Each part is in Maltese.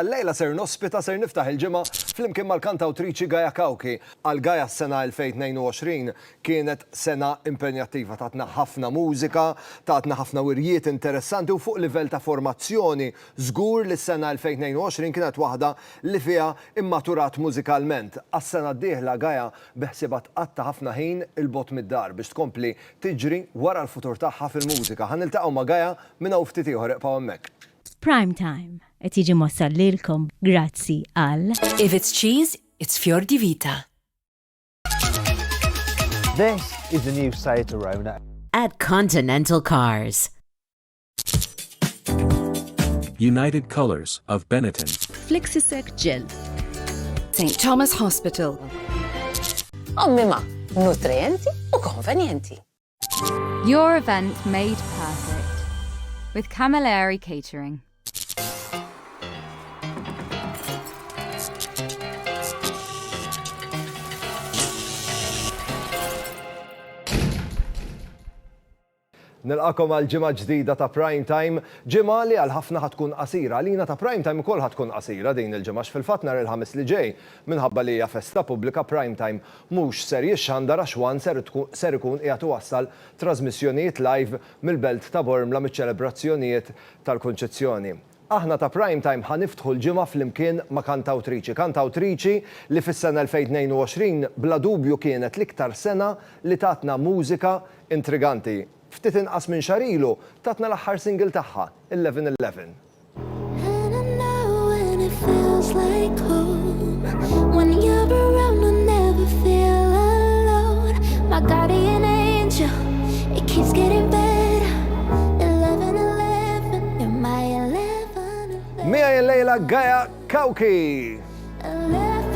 Illejla ser nospita Ser Niftaħ il-Ġimgħa flimkien mal-kantawtriċi Gaia Cauchi. Għal Gaia s-sena 2022 kienet sena impenjattiva, tatna ħafna mużika, tatna ħafna wirjiet interessanti u fuq livell ta' formazzjoni żgur li s-sena 2022 kienet waħda li fiha mmaturat mużikalment. Għas-sena d-dieħla Gaia beħsiebha tqatta' ħafna ħin 'il bogħod mid-dar biex tkompli tiġri wara l-futur tagħha fil-mużika. Ħa niltaqgħu ma' Gaia minn hawn ftit ieħor iqbgħu hemmhekk. Prime Time. Qed jiġi mwassal lilkom grazzi għal. If it's cheese, it's fior di vita. This is the new Seat Arona. At Continental Cars. United Colors of Benetton. Flexisec Gel. St. Thomas Hospital. Ommima, nutrienti u konvenienti. Your event made perfect with Camilleri Catering. Nilqakom għal ġimgħa ġdida ta' Prime Time, ġimgħa li għal ħafna ħatkun qasira. Għalina ta' Prime Time ukoll ħatkun qasira din il-ġimgħa x'fil-fatt nhar il-Ħamis li ġej minħabba li hija festa pubblika Prime Time mhux ser jixxandar għax One ser ikun qiegħed iwassal trażmissjonijiet live mill-Belt ta' Bormla miċ-ċelebrazzjonijiet tal-Kunċizzjoni. Aħna ta' Prime Time ħa niftħu l-ġimgħa flimkien ma' kantawtriċi, kantawtriċi li fis-sena 2022 bla dubju kienet l-iktar sena li tatna mużika intriganti. Ftit inqas minn xahar ilu tatna l-aħħar single tagħha, Eleven Eleven. Miegħi l-lejla Gaia Kawki.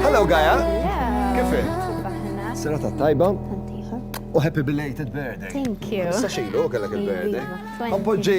Hello Gaia. Kif Serata tajba. U happy belated birthday. Thank you. Sa xejlu kellek il-birthday. Appoġġi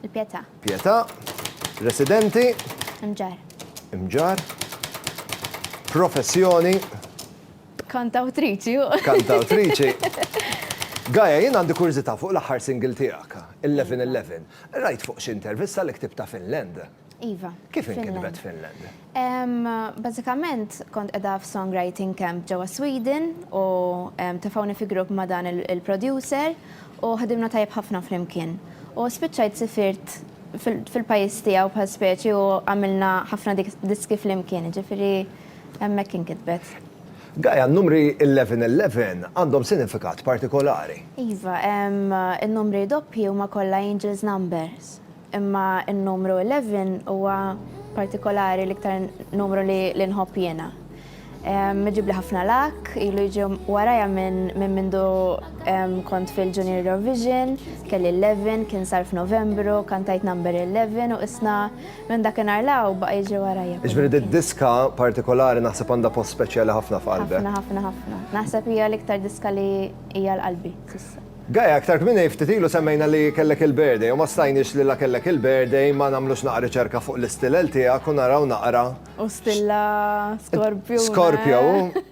Il-Pietà. Pietà. Residenti. Imġar. Imġar. Professjoni. Kantawtriċi. Kantawtriċi. Gaja, jien għandi kurzita fuq l-aħħar single tiegħek, 11-11. Rajt fuq xi intervista li ktibta Finland. Iva. Kif inkitbet Finland? Bażikament kont qiegħda f'songwriting camp ġewwa Sweden u tefgħuni fi grupp ma' dan il-producer u ħdimna tajjeb ħafna flimkien. U spiċċajt sifirt fil-pajjiż tiegħu bħal speċi u għamilna ħafna diski flimkien, jiġifieri hemmhekk inkitbet. Gaia, n-numri 'eleven eleven' għandhom sinifikat partikolari. Iva, in-numri doppji huma kollha angels' numbers. Imma n-numru eleven huwa partikolari l-iktar numru li nħobb jiena. Iġibli ħafna luck, ilu jiġi warajja minn mindu kont fil-Junior Eurovision, kelli eleven, kien sar f'Novembru, kantajt number eleven u issa minn dakinhar 'l hawn baqa' jiġi warajja. Jiġifieri did-diska partikolari naħseb għandha post speċjali ħafna f'qalbek. Ħafna ħafna ħafna. Naħseb hija l-iktar diska li hija l-qalbi s'issa. Gaia, aktar kmieni ftit ilu semmejna li kellek il-birthday u ma stajniex li la kellek il-birthday ma nagħmlux naqra riċerka fuq l-istilel tiegħek u naraw naqra. U stilla Scorpio. Scorpio.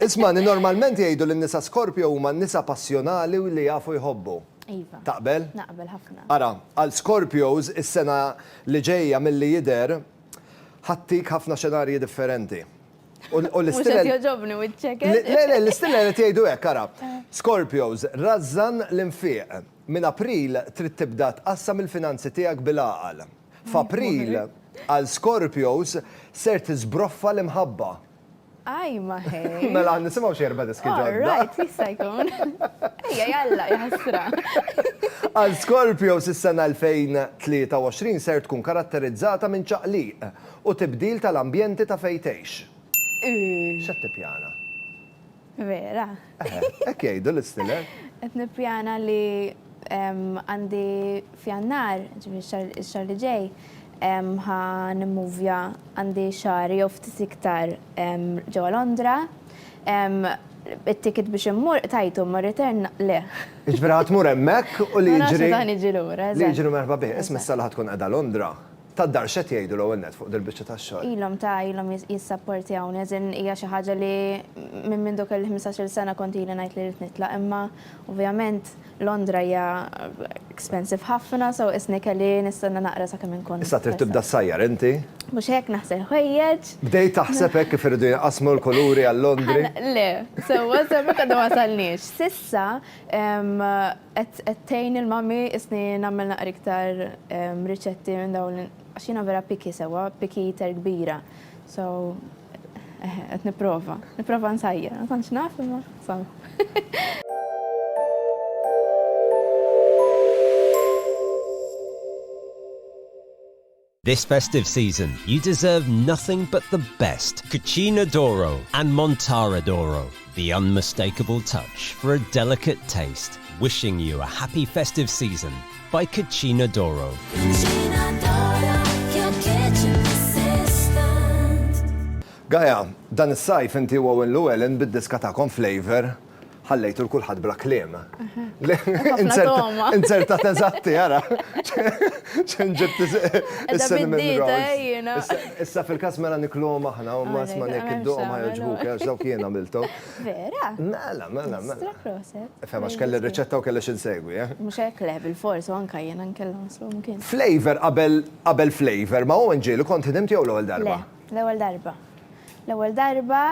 Ismagħni, normalment jgħidu li n-nisa Scorpio huma n-nisa passjonali u li jafu jħobbu. Iva. Taqbel? Naqbel ħafna. Ara, għal Scorpios is-sena li ġejja milli jidher ħa ttik ħafna xenarji differenti. Mhux qed jogħġobni wiċċek. Le, le, l-istilla qed jgħidu hekk, ara. Scorpios, rażżan l-infiq. Minn April trid tibda tqassam il-finanzi tiegħek bil-għaqal. F'April, għal Scorpios, ser tiżbroffa l-imħabba. Ajma ħej! Mela nisimgħu xi erba' diski ġodda. Alright, jista' jkun. Ejja, jalla, jaħasra. Għal Scorpios is-sena 2023 ser tkun karatterizzata minn ċaqliq. U tibdil tal-ambjenti ta' fejn tgħix. Ii. X'qed tippjana? Vera? Eħe, hekk jgħidu l-istiller. Qed nippjana li għandi f'Jannar, ġifieri x-xahar li ġej, ħa nimmuvja għandi xahar jew ftit iktar ġewwa Londra. It-ticket biex immur qtajtu, imma r-return le. Jiġifieri ħa tmur hemmhekk u li jiġri. Ma nafx meta ħa niġi lura, eżatt. Li jiġri merħba bih. Isma' s-sala ħa tkun qiegħda Londra. tad-dar x'qed jgħidu l-ewwel nett fuq dil-biċċa tax-xogħol? Ilhom ta' ilhom jissapportjawni, as in hija xi ħaġa li minn mindu kelli ħmistax-il sena kont ili ngħid li rrid nitlaq imma ovvjament Londra hija expensive ħafna so qisni kelli nistenna naqra sakemm inkun. Issa trid tibda ssajjar inti? Mhux hekk naħsel ħwejjeġ. Bdejt taħseb hekk kif iridu jinqasmu l-kuluri għal Londri? Le, sewwa sewwa minn għadna ma wasalniex. S'issa Qed tgħin il mummy isni nagħmel naqra iktar riċetti minn dawn għax jiena vera picky sewwa, picky eater kbira. So eħe qed nipprova. Nipprova nsajjar, ma tantx naf imma insomma. This festive season you deserve nothing but the best Cucina d'Oro and Montara d'Oro, the unmistakable touch for a delicate taste. Wishing you a happy festive season by Cucina d'Oro. Cucina d'Oro, your kitchen assistant. Gaia, dan is-sajf inti u Owen Llewellyn bid-diska tagħkom Flavour Ħallejtu l-kulħadd bla kliem. Inzertat eżatti, ara. ċen ġibt Issa fil-kas mela niklom aħna, u ma sma nek id-dom ma joġbuk, għax dawk jena miltu. Vera? Mela, mela, mela. Fema, xkelli r-reċetta u kelli xinsegwi, eh? Mux hekk le, bil-fors, u anka jena nkellom slu mkien. Flavor qabel flavor, ma u nġilu kont ħdimt jew l-ewwel darba? Le, l-ewwel darba. L-ewwel darba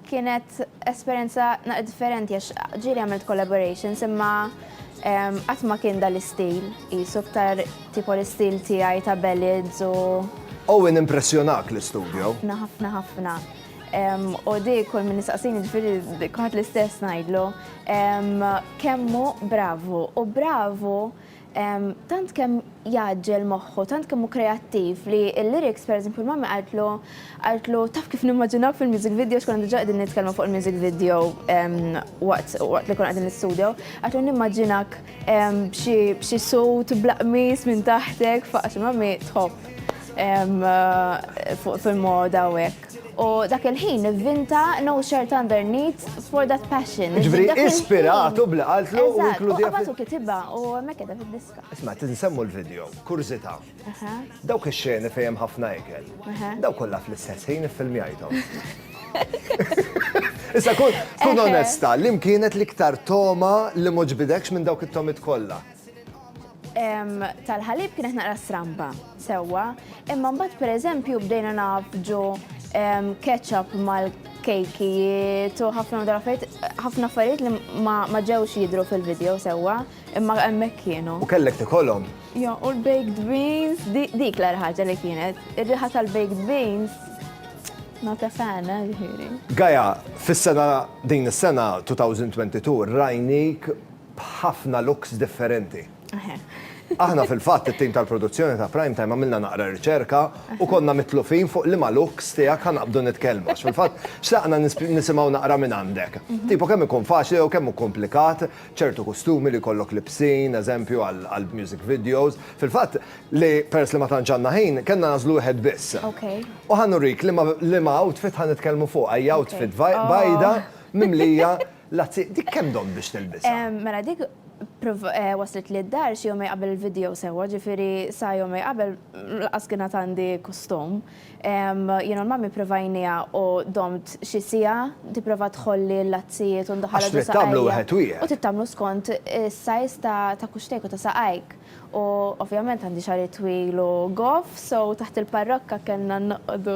Kienet esperjenza naqra differenti għax ġieli għamilt collaborations imma qatt ma kien dan l-istil qisu iktar tipo l-istil tiegħi ta' ballads u Owen impressjonak l-istudjo? Ħafna, ħafna, ħafna. U di kull min nistaqsini ġifiri kuħat l-istess najdlu. Kemmu bravu u bravu Tant kemm jgħaġġel moħħu, tant kemm hu kreattiv li l-lyrics pereżempju l-mamma qaltlu qaltlu taf kif nimmaġinawk fil-music video x'konna diġà qegħdin nitkellmu fuq il-music video waqt waqt li konna qegħdin l-istudio, qaltlu nimmaġinak b'xi b'xi suit bla qmis minn taħtek, faqgħet il-mommy tħobb fuq fil-moda u hekk. U dak il-ħin ivvinta no shirt underneath for that passion. Ġifri, ispiratu bla qaltlu u inkludu. Għabatu kitiba u mekkeda fil-diska. Isma, t-nsemmu l-video, kurzita. Dawk il-xeni fejem ħafna ikel. Dawk kolla fl-istess ħin filmjajtom. Issa kun onesta, li mkienet liktar toma li muġbidekx minn dawk it-tomit kolla. tal-ħalib kienet naqra stramba, sewwa, imma mbagħad pereżempju bdejna nafġu ketchup mal-kejkijiet u ħafna draffet, ħafna affarijiet li ma ġewx jidru fil-video sewwa, imma hemmhekk kienu. U kellek tikolhom? Jo, u l-baked beans, dik l ħaġa li kienet. Ir-riħa tal-baked beans Not a fan, eh, ġiri. Gaja, fis-sena, din is-sena 2022, rajnik b'ħafna looks differenti. Aħna fil-fatt it-tim tal-produzzjoni ta' Prime Time għamilna naqra riċerka u konna mitlufin fuq liema looks tiegħek ħa naqbdu nitkellmu għax fil-fatt xtaqna nisimgħu naqra minn għandek. Tipo kemm ikun faċli jew kemm hu komplikat ċertu kustumi li jkollok libsin, eżempju, għall-music videos. Fil-fatt li peress li ma tantx għandna ħin, kellna nagħżlu wieħed biss. U ħa nurik liema outfit ħa nitkellmu fuqha. Hija outfit bajda mimlija La zi, dik kemm domt biex tilbisha? Mela dik waslitli d-dar xi jumej qabel il-video sewwa, ġifieri sa jumej qabel lanqas kien għad għandi kustum. Jien u l-Mummy provajnieha u domt xi siegħa, tipprova tħolli l-lazzijiet u ndaħal għadu saqajja. Għax trid tagħmlu wieħed wieħed. U trid tagħmlu skont is-size ta' kuxtejk u ta' saqajk. U ovvjament għandi xagħri twil u goff, so taħt il-parrokka kellna noqogħdu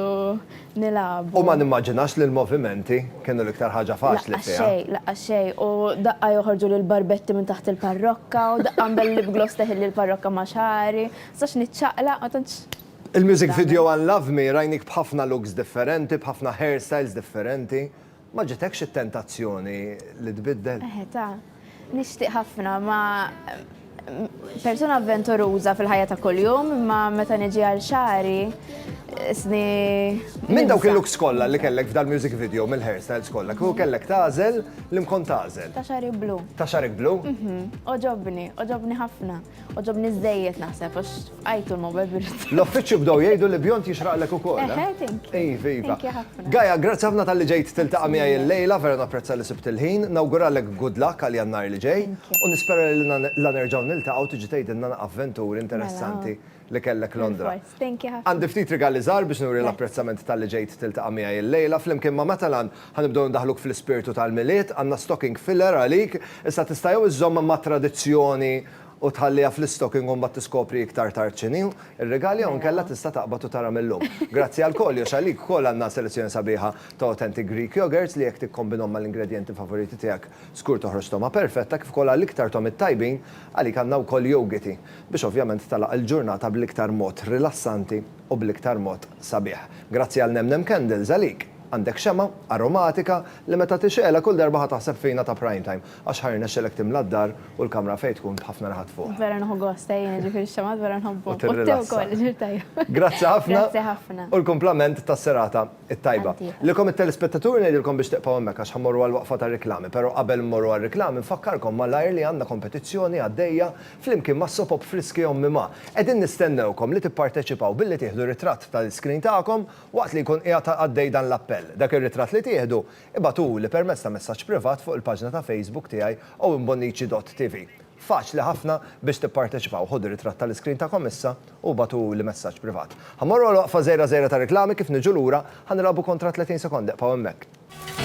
nilagħbu. U ma nimmaġinax li l-movimenti kienu l-iktar ħaġa faċli fiha. Laqqas xejn, laqqas xejn. U daqqa joħorġu li l-barbetti minn taħt il-parrokka u daqqa nbellib gloss teħilli l-parrokka ma' xagħri. Ma nistax niċċaqlaq, ma tantx. Il-music video għal Love Me rajnik b'ħafna looks differenti, b'ħafna hairstyles differenti. Ma ġitekx it-tentazzjoni li tbiddel? Eħe ta. Nixtieq ħafna ma persuna avventuruża fil-ħajja ta' kuljum, imma meta niġi għal xari, isni. Minn dawk il-looks kollha li kellek f'dal music video mill-hairstyles kollha, kieku kellek tagħżel li mkont tagħżel. Ta' xari blu. Ta' xarek blu? Mhm. Oġobni, oġobni ħafna. Oġobni żejjed naħseb, għax f'qajtu l-mobile birrit. L-offiċċju bdow jgħidu li bjont jixraqlek ukoll. Eh, eh? thank you. Iva, iva. Thank you ħafna. Gaja, grazzi ħafna tal-li ġejt tiltaqa' miegħi l-lejla, vera napprezza li sibt il-ħin. Nawguralek good luck għal jannar li ġej u nispera li la nerġgħu niltaqgħu tiġi tgħidilna avventuri interessanti mela. li kellek Londra. Thank you ħafna. Għandi ftit rigali żgħar biex nuri l-apprezzament talli ġejt tiltaqa' miegħi illejla. Flimkien ma' Matalan, ħa nibdew indaħħluk fl-ispirtu tal-Milied. Għandna stocking filler għalik. Issa tista' jew iżżomm mat-tradizzjoni u tħalliha fl-istocking u mbagħad tiskopri iktar tard x'inhi r-rigal jew inkella tista' taqbad u tara mil-lum. Grazzi għall-koljox, għalik ukoll għandna selezzjoni sabiħa ta' authentic Greek yogurts li jekk tikkombinhom mal-ingredjenti favoriti tiegħek, żgur toħroġ togħma perfetta, kif ukoll għal iktar togħmiet tajbin, għalik għandna wkoll yogiti. biex ovvjament tagħlaq il-ġurnata bl-iktar mod rilassanti u bl-iktar mod sabiħ. Grazzi għal Nem Nem Candles, għalik! Għandek xemgħa aromatika li meta tixgħelha kull darba ħa taħseb fina ta' Prime Time, għax ħa jirnexxilek timla d-dar u l-kamra fejn tkun b'ħafna naħat fuqha. Vera nieħu gost jien, jiġifieri x-xemgħat vera nħobbhom. U tirrilassa. Grazzi ħafna. Grazzi ħafna. U l-kumplament tas-serata t-tajba. Lilkom it-telespettaturi ngħidilkom biex tibqgħu hemmhekk għax ħa mmorru għall-waqfa tar-riklami, però qabel immorru għar-riklami nfakkarkom malajr li għandna kompetizzjoni għaddejja Flimkien ma' Sopop Friski Ommi Ma, qegħdin nistennewkom li tipparteċipaw billi tieħdu ritratt tal-iskrin tagħkom waqt li jkun qiegħed għaddej dan l-appell. Dak ir-ritratt li tieħdu, ibagħtuli permezz ta' messaġġ privat fuq il-paġna ta' Facebook tiegħi owenbonnici.tv. Faċli ħafna biex tipparteċipaw. Ħudu ritratt tal-iskrin tagħkom issa u bagħtuli messaġġ privat. Ħa mmorru għal waqfa żgħira żgħira ta' riklami, kif niġu lura, ħa nilgħabu kontra 30 sekonda, ibqgħu hemmhekk.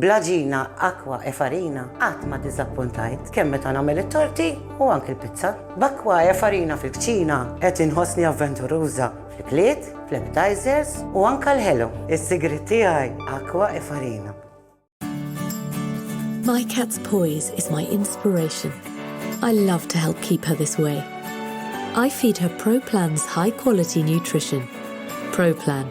Bl-għaġina Aqua e Farina qatt ma diżappuntajt, kemm meta nagħmel it-torti u anki l-pizza. B'Aqua e Farina fil-kċina qed inħossni avventuruża fl-ikliet, fl-appetizers u anke l-ħelu. Is-sigriet tiegħi Aqua e Farina. My cat's poise is my inspiration. I love to help keep her this way. I feed her Pro Plan's high quality nutrition. Pro Plan.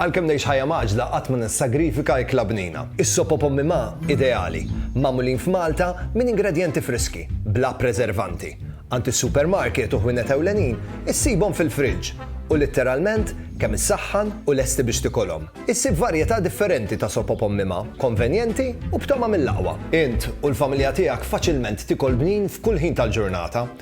Għalkemm ngħix ħajja mgħaġġla qatt ma nissagrifika ikla bnina. Is-sop u pommi ma' ideali, magħmulin f'Malta minn ingredjenti friski, bla preservanti. Għand is-supermarket u ħwienet ewlenin issibhom fil-friġġ u litteralment kemm issaħħan u lesti biex tikolhom. Issib varjetà differenti ta' sop u pommi ma', konvenjenti u b'togħma mill-aqwa. Int u l-familja tiegħek faċilment tikol bnin f'kull ħin tal-ġurnata.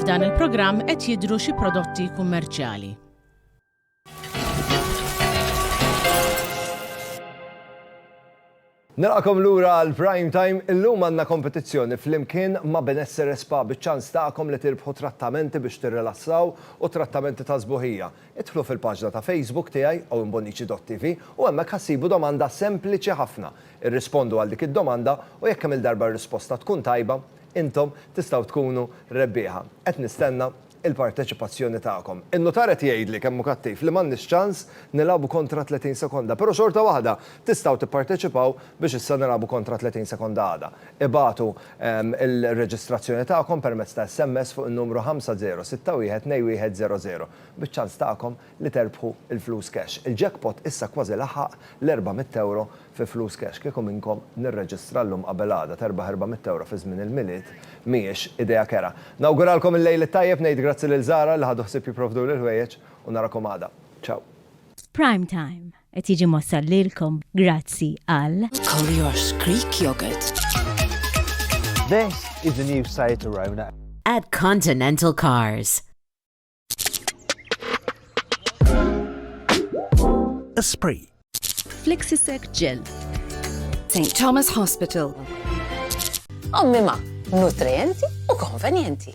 F'dan il-programm qed jidhru xi prodotti kummerċjali. Nilqakom lura għal Prime Time, illum għandna kompetizzjoni flimkien ma' Benessere Spa biċ-ċans tagħkom li tirbħu trattamenti biex tirrilassaw u trattamenti ta' sbuħija. Idħlu fil-paġna ta' Facebook tiegħi, owenbonnici.tv, u hemmhekk ħa ssibu domanda sempliċi ħafna. Irrispondu għal dik id-domanda u jekk kemm il-darba r-risposta tkun tajba, intom tistgħu tkunu rebbieħa. Qed nistenna il-parteċipazzjoni tagħkom. In-nutar qed jgħidli kemm hu kattiv li m'għandniex ċans nilagħbu kontra 30 sekonda, però xorta waħda tistgħu tipparteċipaw biex issa nilagħbu kontra 30 sekonda għada. Ibagħtu l-reġistrazzjoni tagħkom permezz ta' SMS fuq in-numru 50612100 biċ-ċans tagħkom li terbħu l-flus cash. Il-jackpot issa kważi laħaq l-€400 fi flus cash. Kieku minnkom nirreġistra llum qabel għada terbaħ €400 fi żmien il-Milied mhijiex idea kerha. Nawguralkom il-Lejl it-Tajjeb, ngħid grazzi lil Zara li ħadu ħsieb jipprovduli l-ħwejjeġ u narakom għada. Ciao. F'Prime Time. Qed jiġi mossal lilkom grazzi għal. Collier's Creek Yogurt. This is the new Seat Arona. At Continental Cars. Esprit. Flexisec Gel. St. Thomas Hospital. Ommima, nutrienti u konvenjenti.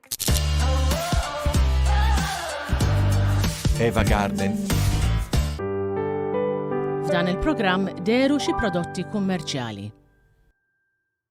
Eva Garden. F'dan il-programm deru xi prodotti kummerċjali.